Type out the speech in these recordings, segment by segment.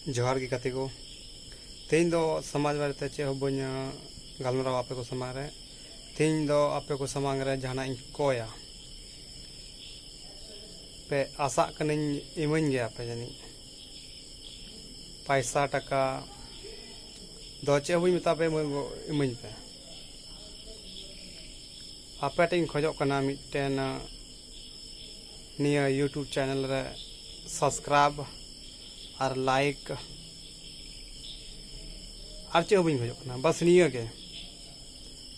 ᱡᱚᱦᱟᱨ ᱜᱮ ᱜᱟᱛᱮ ᱠᱚ ᱛᱮᱦᱮᱧ ᱫᱚ ᱥᱚᱢᱟᱡᱽ ᱵᱟᱨᱮᱛᱮ ᱪᱮᱫ ᱦᱚᱸ ᱵᱟᱹᱧ ᱜᱟᱞᱢᱟᱨᱟᱣᱟ ᱟᱯᱮ ᱠᱚ ᱥᱟᱢᱟᱝ ᱨᱮ ᱛᱮᱦᱮᱧ ᱫᱚ ᱟᱯᱮ ᱠᱚ ᱥᱟᱢᱟᱝ ᱨᱮ ᱡᱟᱦᱟᱱᱟᱜ ᱤᱧ ᱠᱚᱭᱟ ᱯᱮ ᱟᱥᱟᱜ ᱠᱟᱹᱱᱟᱹᱧ ᱤᱢᱟᱹᱧ ᱜᱮᱭᱟ ᱯᱮ ᱡᱟᱹᱱᱤᱡ ᱯᱟᱭᱥᱟ ᱴᱟᱠᱟ ᱫᱚ ᱪᱮᱫ ᱦᱚᱸ ᱵᱟᱹᱧ ᱢᱮᱛᱟ ᱯᱮ ᱤᱢᱟᱹᱧ ᱯᱮ ᱟᱯᱮ ᱴᱷᱮᱱ ᱤᱧ ᱠᱷᱚᱡᱚᱜ ᱠᱟᱱᱟ ᱢᱤᱫᱴᱮᱱ ᱱᱤᱭᱟᱹ ᱭᱩᱴᱩᱵᱽ ᱪᱮᱱᱮᱞ ᱨᱮ ᱥᱟᱵᱥᱠᱨᱟᱭᱤᱵᱽ ᱟᱨ ᱞᱟᱭᱤᱠ ᱟᱨ ᱪᱮᱫ ᱦᱚᱸ ᱵᱟᱹᱧ ᱠᱷᱚᱡᱚᱜ ᱠᱟᱱᱟ ᱵᱟᱥ ᱱᱤᱭᱟᱹ ᱜᱮ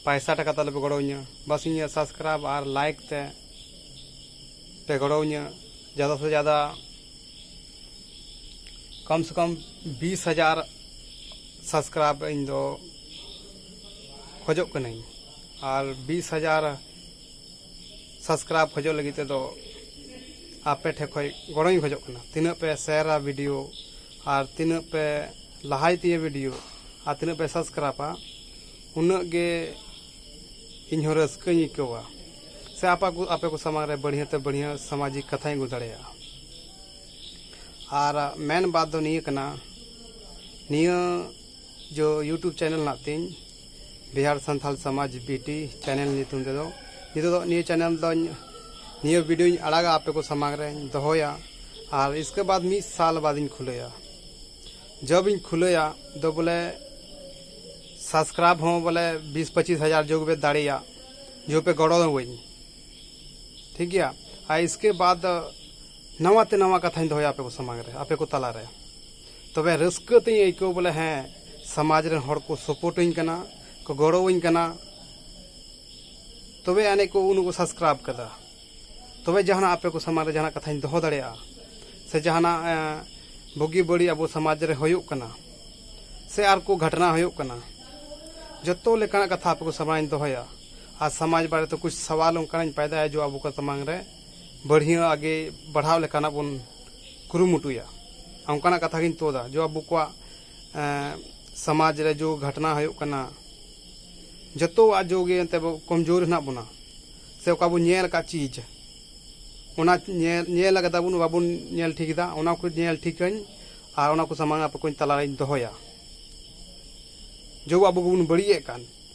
ᱯᱟᱭᱥᱟ ᱴᱟᱠᱟ ᱛᱟᱞᱮ ᱯᱮ ᱜᱚᱲᱚ ᱤᱧᱟᱹ ᱵᱟᱥ ᱤᱧᱟᱹᱜ ᱥᱟᱵᱥᱠᱨᱟᱭᱤᱵᱽ ᱟᱨ ᱞᱟᱭᱤᱠ ᱛᱮ ᱯᱮ ᱜᱚᱲᱚ ᱤᱧᱟᱹ ᱡᱟᱫᱟ ᱥᱮ ᱡᱟᱫᱟ ᱠᱚᱢ ᱥᱮ ᱠᱚᱢ ᱵᱤᱥ ᱦᱟᱡᱟᱨ ᱥᱟᱵᱥᱠᱨᱟᱭᱤᱵᱽ ᱤᱧ ᱫᱚ ᱠᱷᱚᱡᱚᱜ ᱠᱟᱹᱱᱟᱹᱧ ᱟᱨ ᱵᱤᱥ ᱦᱟᱡᱟᱨ ᱥᱟᱵᱥᱠᱨᱟᱭᱤᱵᱽ ᱠᱷᱚᱡᱚᱜ ᱞᱟᱹᱜᱤᱫ ᱛᱮᱫᱚ ᱟᱯᱮ ᱴᱷᱮᱱ ᱠᱷᱚᱱ ᱜᱚᱲᱚᱧ ᱠᱷᱚᱡᱚᱜ ᱠᱟᱱᱟ ᱛᱤᱱᱟᱹᱜ ᱯᱮ ᱥᱮᱭᱟᱨᱟ ᱵᱷᱤᱰᱤᱭᱳ ᱟᱨ ᱛᱤᱱᱟᱹᱜ ᱯᱮ ᱞᱟᱦᱟᱭ ᱛᱤᱧᱟᱹ ᱵᱷᱤᱰᱤᱭᱳ ᱟᱨ ᱛᱤᱱᱟᱹᱜ ᱯᱮ ᱥᱟᱵᱥᱠᱨᱟᱭᱤᱵᱟ ᱩᱱᱟᱹᱜ ᱜᱮ ᱤᱧ ᱦᱚᱸ ᱨᱟᱹᱥᱠᱟᱹᱧ ᱟᱹᱭᱠᱟᱹᱣᱟ ᱥᱮ ᱟᱯᱟ ᱠᱚ ᱟᱯᱮ ᱠᱚ ᱥᱟᱢᱟᱝ ᱨᱮ ᱵᱟᱹᱲᱦᱤᱭᱟᱹ ᱛᱮ ᱵᱟᱹᱲᱦᱤᱭᱟᱹ ᱥᱟᱢᱟᱡᱤᱠ ᱠᱟᱛᱷᱟᱧ ᱟᱹᱜᱩ ᱫᱟᱲᱮᱭᱟᱜᱼᱟ ᱟᱨ ᱢᱮᱱ ᱵᱟᱛ ᱫᱚ ᱱᱤᱭᱟᱹ ᱠᱟᱱᱟ ᱱᱤᱭᱟᱹ ᱡᱚ ᱤᱭᱩᱴᱩᱵᱽ ᱪᱮᱱᱮᱞ ᱦᱮᱱᱟᱜ ᱛᱤᱧ ᱵᱤᱦᱟᱨ ᱥᱟᱱᱛᱟᱞ ᱥᱚᱢᱟᱡᱽ ᱵᱤᱴᱤ ᱪᱮᱱᱮᱞ ᱧᱩᱛᱩᱢ ᱛᱮᱫᱚ ᱱᱤᱛᱚᱜ ᱫᱚ ᱱᱤᱭᱟᱹ ᱪᱮᱱᱮᱞ ᱫᱚᱧ ᱱᱤᱭᱟᱹ ᱵᱷᱤᱰᱤᱭᱳᱧ ᱟᱲᱟᱜᱟ ᱟᱯᱮ ᱠᱚ ᱥᱟᱢᱟᱝ ᱨᱮᱧ ᱫᱚᱦᱚᱭᱟ ᱟᱨ ᱤᱥᱠᱮ ᱵᱟᱫᱽ ᱢᱤᱫ ᱥᱟᱞ ᱵᱟᱫᱤᱧ ᱠᱷᱩᱞᱟᱹᱭᱟ ᱡᱚᱵ ᱤᱧ ᱠᱷᱩᱞᱟᱹᱭᱟ ᱫᱚ ᱵᱚᱞᱮ ᱥᱟᱵᱥᱠᱨᱟᱭᱤᱵ ᱦᱚᱸ ᱵᱚᱞᱮ ᱵᱤᱥ ᱯᱚᱸᱪᱤᱥ ᱦᱟᱡᱟᱨ ᱡᱚᱜᱽ ᱯᱮ ᱫᱟᱲᱮᱭᱟ ᱡᱚ ᱯᱮ ᱜᱚᱲᱚ ᱟᱹᱧ ᱴᱷᱤᱠ ᱜᱮᱭᱟ ᱟᱨ ᱤᱥᱠᱮ ᱵᱟᱫᱽ ᱱᱟᱣᱟ ᱛᱮ ᱱᱟᱣᱟ ᱠᱟᱛᱷᱟᱧ ᱫᱚᱦᱚᱭᱟ ᱟᱯᱮ ᱠᱚ ᱥᱟᱢᱟᱝ ᱨᱮ ᱟᱯᱮ ᱠᱚ ᱛᱟᱞᱟ ᱨᱮ ᱛᱚᱵᱮ ᱨᱟᱹᱥᱠᱟᱹ ᱛᱤᱧ ᱟᱹᱭᱠᱟᱹᱣ ᱵᱚᱞᱮ ᱦᱮᱸ ᱥᱚᱢᱟᱡᱽ ᱨᱮᱱ ᱦᱚᱲ ᱠᱚ ᱥᱚᱯᱳᱨᱴᱤᱧ ᱠᱟᱱᱟ ᱠᱚ ᱜᱚᱲᱚᱣᱟᱹᱧ ᱠᱟᱱᱟ ᱛᱚᱵᱮ ᱟᱹᱱᱤᱡ ᱠᱚ ᱩᱱᱠᱩ ᱥᱟᱵᱥᱠᱨᱟᱭᱤᱵᱽ ᱠᱟᱫᱟ ᱛᱚᱵᱮ ᱡᱟᱦᱟᱱᱟᱜ ᱟᱯᱮ ᱠᱚ ᱥᱟᱢᱟᱝ ᱨᱮ ᱡᱟᱦᱟᱱᱟᱜ ᱠᱟᱛᱷᱟᱧ ᱫᱚᱦᱚ ᱫᱟᱲᱮᱭᱟᱜᱼᱟ ᱥᱮ ᱡᱟᱦᱟᱱᱟᱜ ᱵᱩᱜᱤ ᱵᱟᱹᱲᱤᱡ ᱟᱵᱚ ᱥᱚᱢᱟᱡᱽ ᱨᱮ ᱦᱩᱭᱩᱜ ᱠᱟᱱᱟ ᱥᱮ ᱟᱨ ᱠᱚ ᱜᱷᱚᱴᱱᱟ ᱦᱩᱭᱩᱜ ᱠᱟᱱᱟ ᱡᱚᱛᱚ ᱞᱮᱠᱟᱱᱟᱜ ᱠᱟᱛᱷᱟ ᱟᱯᱮ ᱠᱚ ᱥᱟᱢᱟᱝ ᱨᱮᱧ ᱫᱚᱦᱚᱭᱟ ᱟᱨ ᱥᱚᱢᱟᱡᱽ ᱵᱟᱨᱮ ᱛᱮ ᱠᱩᱪ ᱥᱟᱣᱟᱞ ᱚᱱᱠᱟᱱᱟᱜ ᱤᱧ ᱯᱟᱭᱫᱟᱭᱟ ᱡᱮ ᱟᱵᱚ ᱠᱚ ᱥᱟᱢᱟᱝ ᱨᱮ ᱵᱟᱹᱲᱦᱤ ᱟᱜᱮ ᱵᱟᱲᱦᱟᱣ ᱞᱮᱠᱟᱱᱟᱜ ᱵᱚᱱ ᱠᱩᱨᱩᱢᱩᱴᱩᱭᱟ ᱚᱱᱠᱟᱱᱟᱜ ᱠᱟᱛᱷᱟ ᱜᱤᱧ ᱛᱳᱫᱟ ᱡᱚ ᱟᱵᱚ ᱠᱚᱣᱟᱜ ᱥᱚᱢᱟᱡᱽ ᱨᱮ ᱡᱚ ᱜᱷᱟᱴᱱᱟ ᱦᱩᱭᱩᱜ ᱠᱟᱱᱟ ᱡᱚᱛᱚᱣᱟᱜ ᱡᱚ ᱜᱮ ᱮᱱᱛᱮ ᱠᱚᱢᱡᱳᱨ ᱦᱮᱱᱟᱜ ᱵᱚᱱᱟ ᱥᱮ ᱚᱠᱟ ᱵᱚᱱ ᱧᱮᱞ ᱟᱠᱟᱫ ᱪᱤᱡᱽ ᱚᱱᱟ ᱧᱮᱞ ᱧᱮᱞ ᱟᱠᱟᱫᱟ ᱵᱚᱱ ᱵᱟᱵᱚᱱ ᱧᱮᱞ ᱴᱷᱤᱠ ᱮᱫᱟ ᱚᱱᱟ ᱠᱚ ᱧᱮᱞ ᱴᱷᱤᱠᱟᱹᱧ ᱟᱨ ᱚᱱᱟ ᱠᱚ ᱥᱟᱢᱟᱝ ᱟᱯᱮ ᱠᱚ ᱛᱟᱞᱟᱨᱤᱧ ᱫᱚᱦᱚᱭᱟ ᱡᱚ ᱟᱵᱚ ᱜᱮᱵᱚᱱ ᱵᱟᱹᱲᱤᱡ ᱮᱫ ᱠᱟᱱ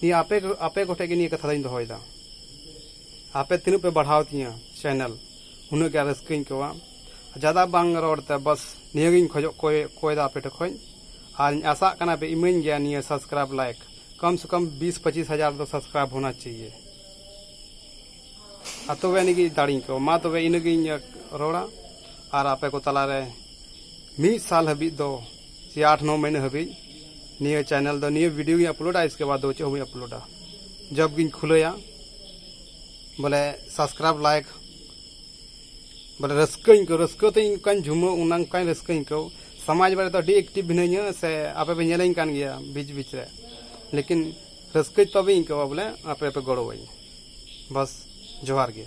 ᱱᱤᱭᱟᱹ ᱟᱯᱮ ᱟᱯᱮ ᱠᱚᱴᱷᱮᱱ ᱜᱮ ᱱᱤᱭᱟᱹ ᱠᱟᱛᱷᱟ ᱫᱚᱧ ᱫᱚᱦᱚᱭᱮᱫᱟ ᱟᱯᱮ ᱛᱤᱱᱟᱹᱜ ᱯᱮ ᱵᱟᱲᱦᱟᱣ ᱛᱤᱧᱟᱹ ᱪᱮᱱᱮᱞ ᱩᱱᱟᱹᱜ ᱜᱮ ᱨᱟᱹᱥᱠᱟᱹᱧ ᱟᱹᱭᱠᱟᱹᱣᱟ ᱡᱟᱫᱟ ᱵᱟᱝ ᱨᱚᱲ ᱛᱮ ᱵᱟᱥ ᱱᱤᱭᱟᱹ ᱜᱮᱧ ᱠᱷᱚᱡᱚᱜ ᱠᱚᱭᱮᱫᱟ ᱟᱯᱮ ᱴᱷᱮᱱ ᱠᱷᱚᱱ ᱟᱨᱤᱧ ᱟᱥᱟᱜ ᱠᱟᱱᱟ ᱯᱮ ᱤᱢᱟᱹᱧ ᱜᱮᱭᱟ ᱱᱤᱭᱟᱹ ᱥᱟᱵᱥᱠᱨᱟᱭᱤᱵᱽ ᱞᱟᱭᱤᱠ ᱠᱚᱢ ᱥᱮ ᱠᱚᱢ ᱵᱤᱥ ᱯᱚᱸᱪᱤᱥ ᱦᱟᱡᱟᱨ ᱫᱚ ᱥᱟᱵᱥᱠᱨᱟᱭᱤᱵᱽ ᱦᱳᱱᱟ ᱪᱟᱦᱤᱭᱮ ᱟᱨ ᱛᱚᱵᱮ ᱟᱹᱱᱤᱡ ᱜᱮ ᱫᱟᱲᱮᱧ ᱟᱹᱭᱠᱟᱹᱣᱟ ᱢᱟ ᱛᱚᱵᱮ ᱤᱱᱟᱹ ᱜᱤᱧ ᱨᱚᱲᱟ ᱟᱨ ᱟᱯᱮ ᱠᱚ ᱛᱟᱞᱟ ᱨᱮ ᱢᱤᱫ ᱥᱟᱞ ᱦᱟᱹᱵᱤᱡ ᱫᱚ ᱥᱮ ᱟᱴ ᱱᱚ ᱢᱟᱹᱦᱱᱟᱹ ᱦᱟᱹᱵᱤᱡ ᱱᱤᱭᱟᱹ ᱪᱮᱱᱮᱞ ᱫᱚ ᱱᱤᱭᱟᱹ ᱵᱷᱤᱰᱤᱭᱳ ᱜᱤᱧ ᱟᱯᱞᱳᱰᱟ ᱤᱥᱠᱮ ᱵᱟᱫᱽ ᱫᱚ ᱪᱮᱫ ᱦᱚᱸ ᱵᱟᱹᱧ ᱟᱯᱞᱳᱰᱟ ᱡᱚᱵᱽ ᱜᱤᱧ ᱠᱷᱩᱞᱟᱹᱭᱟ ᱵᱚᱞᱮ ᱥᱟᱵᱥᱠᱨᱟᱭᱤᱵᱽ ᱞᱟᱭᱤᱠ ᱵᱚᱞᱮ ᱨᱟᱹᱥᱠᱟᱹᱧ ᱟᱹᱭᱠᱟᱹᱣ ᱨᱟᱹᱥᱠᱟᱹ ᱛᱮ ᱤᱧ ᱚᱱᱠᱟᱧ ᱡᱷᱩᱢᱟᱹᱣ ᱚᱱᱟ ᱚᱱᱠᱟᱧ ᱨᱟᱹᱥᱠᱟᱹᱧ ᱟᱹᱭᱠᱟᱹᱣ ᱥᱚᱢᱟᱡᱽ ᱵᱟᱨᱮ ᱫᱚ ᱟᱹᱰᱤ ᱮᱠᱴᱤᱵᱽ ᱢᱤᱱᱟᱹᱧᱟ ᱥᱮ ᱟᱯᱮ ᱯᱮ ᱧᱮᱞᱤᱧ ᱠᱟᱱ ᱜᱮᱭᱟ ᱵᱤᱪ ᱵᱤᱪ ᱨᱮ ᱞᱮᱠᱤᱱ ᱨᱟᱹᱥᱠᱟᱹ ᱛᱚᱵᱮᱧ ᱟᱹᱭᱠᱟᱹᱣᱟ ᱵᱚᱞᱮ ᱟᱯᱮ ᱯᱮ ᱜᱚᱲᱚᱣᱟᱹᱧᱟ ᱵᱟᱥ ᱡᱚᱦᱟᱨ ᱜᱮ